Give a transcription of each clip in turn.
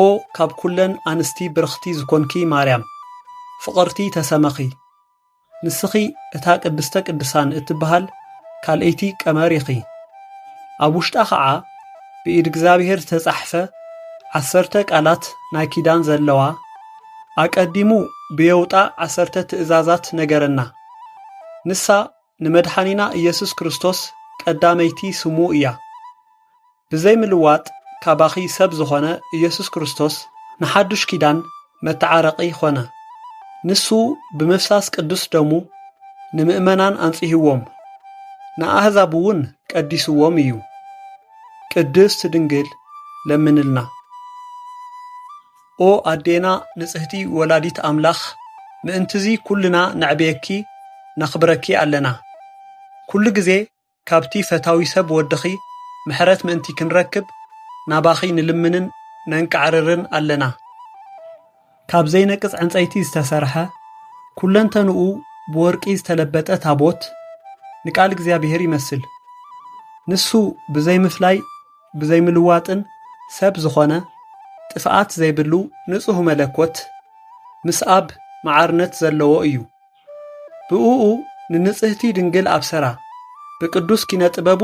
ኦ ካብ ኩለን ኣንስቲ ብርኽቲ ዝኾንኪ ማርያም ፍቕርቲ ተሰመኺ ንስኺ እታ ቅድስተ ቅድሳን እትበሃል ካልኣይቲ ቀመር ኢኺ ኣብ ውሽጣ ኸዓ ብኢድ እግዚኣብሔር ዝተጻሕፈ ዓሰርተ ቃላት ናይ ኪዳን ዘለዋ ኣቀዲሙ ብየውጣ ዓሰርተ ትእዛዛት ነገረና ንሳ ንመድሓኒና ኢየሱስ ክርስቶስ ቀዳመይቲ ስሙ እያ ብዘይ ምልዋጥ ካባኺ ሰብ ዝኾነ ኢየሱስ ክርስቶስ ንሓዱሽ ኪዳን መተዓረቒ ኾነ። ንሱ ብምፍሳስ ቅዱስ ደሙ ንምእመናን ኣንጽህዎም፣ ንኣህዛብ እውን ቀዲስዎም እዩ። ቅድስት ድንግል ለምንልና። ኦ ኣዴና ንጽህቲ ወላዲት ኣምላኽ ምእንትዚ ኩልና ነዕብየኪ ነኽብረኪ ኣለና። ኩሉ ግዜ ካብቲ ፈታዊ ሰብ ወድኺ ምሕረት ምእንቲ ክንረክብ ናባኺ ንልምንን ነንቃዕርርን ኣለና። ካብ ዘይነቅጽ ዕንጸይቲ ዝተሰርሐ፣ ኩለንተንኡ ብወርቂ ዝተለበጠ ታቦት፣ ንቃል እግዚኣብሔር ይመስል። ንሱ ብዘይምፍላይ ብዘይምልዋጥን ሰብ ዝኾነ፣ ጥፍኣት ዘይብሉ ንጹህ መለኮት፣ ምስ ኣብ መዓርነት ዘለዎ እዩ። ብእኡ ንንጽህቲ ድንግል ኣብሰራ፣ ብቅዱስ ኪነ ጥበቡ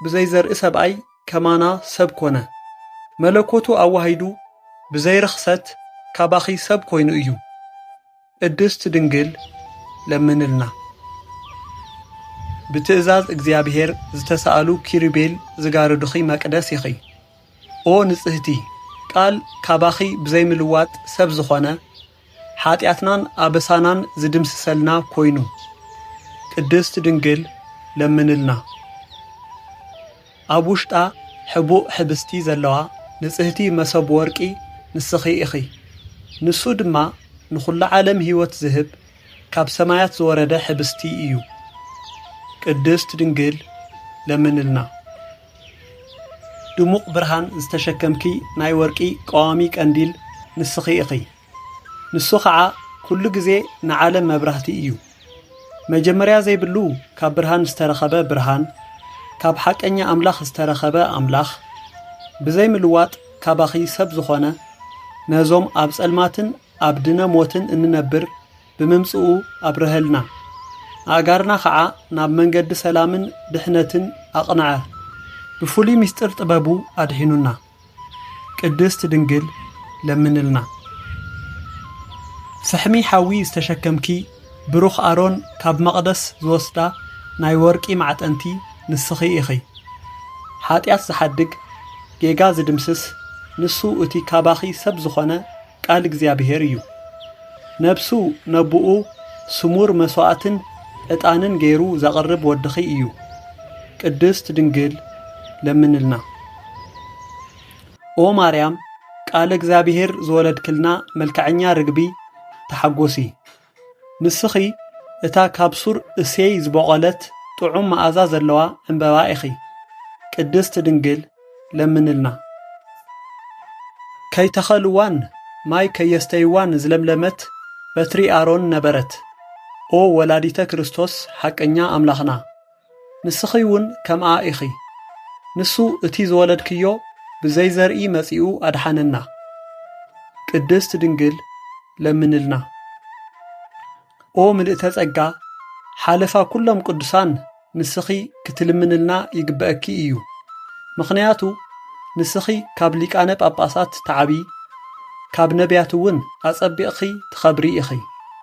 ብዘይ ዘርኢ ሰብኣይ ከማና ሰብ ኮነ፣ መለኮቱ ኣዋሂዱ ብዘይ ርኽሰት ካባኺ ሰብ ኮይኑ እዩ። ቅድስት ድንግል ለምንልና። ብትእዛዝ እግዚኣብሔር ዝተሳእሉ ኪሩቤል ዝጋርዱኺ መቅደስ ኢኺ። ኦ ንጽህቲ፣ ቃል ካባኺ ብዘይምልዋጥ ሰብ ዝኾነ፣ ሓጢኣትናን ኣበሳናን ዝድምስሰልና ኮይኑ ቅድስት ድንግል ለምንልና። ኣብ ውሽጣ ሕቡእ ሕብስቲ ዘለዋ ንጽህቲ መሰብ ወርቂ ንስኺ ኢኺ። ንሱ ድማ ንኹሉ ዓለም ሕይወት ዝህብ ካብ ሰማያት ዝወረደ ሕብስቲ እዩ። ቅድስት ድንግል ለምንልና። ድሙቕ ብርሃን ዝተሸከምኪ ናይ ወርቂ ቀዋሚ ቀንዲል ንስኺ ኢኺ። ንሱ ኸዓ ኩሉ ግዜ ንዓለም መብራህቲ እዩ። መጀመርያ ዘይብሉ ካብ ብርሃን ዝተረኸበ ብርሃን፣ ካብ ሓቀኛ ኣምላኽ ዝተረኸበ ኣምላኽ፣ ብዘይ ምልዋጥ ካባኺ ሰብ ዝኾነ፣ ነዞም ኣብ ጸልማትን ኣብ ድነ ሞትን እንነብር፣ ብምምጽኡ ኣብረሀልና። ኣእጋርና ከኣ ናብ መንገዲ ሰላምን ድሕነትን ኣቕንዐ። ብፍሉይ ምስጢር ጥበቡ ኣድሒኑና። ቅድስት ድንግል ለምንልና። ፍሕሚ ሓዊ ዝተሸከምኪ ብሩኽ ኣሮን ካብ መቕደስ ዝወስዳ ናይ ወርቂ ማዕጠንቲ ንስኺ ኢኺ። ሓጢኣት ዝሓድግ ጌጋ ዝድምስስ ንሱ እቲ ካባኺ ሰብ ዝኾነ ቃል እግዚኣብሔር እዩ። ነብሱ ነቡኡ ስሙር መስዋዕትን ዕጣንን ገይሩ ዘቕርብ ወድኺ እዩ። ቅድስት ድንግል ለምንልና። ኦ ማርያም ቃለ እግዚኣብሔር ዝወለድክልና መልከዐኛ ርግቢ ተሓጎሲ። ንስኺ እታ ካብ ሱር እሴይ ዝበቖለት ጥዑም መኣዛ ዘለዋ ዕምበባ ኢኺ። ቅድስት ድንግል ለምንልና። ከይተኸልዋን ማይ ከየስተይዋን ዝለምለመት በትሪ ኣሮን ነበረት። ኦ ወላዲተ ክርስቶስ ሓቀኛ ኣምላኽና! ንስኺ እውን ከምኣ ኢኺ። ንሱ እቲ ዝወለድክዮ ብዘይ ዘርኢ መጺኡ ኣድሓነና። ቅድስት ድንግል ለምንልና። ኦ ምልእተ ጸጋ ሓለፋ ኩሎም ቅዱሳን ንስኺ ክትልምንልና ይግበኣኪ እዩ ምኽንያቱ ንስኺ ካብ ሊቃነ ጳጳሳት ትዓቢ ካብ ነቢያት እውን ኣጸቢቕኺ ትኸብሪ ኢኺ።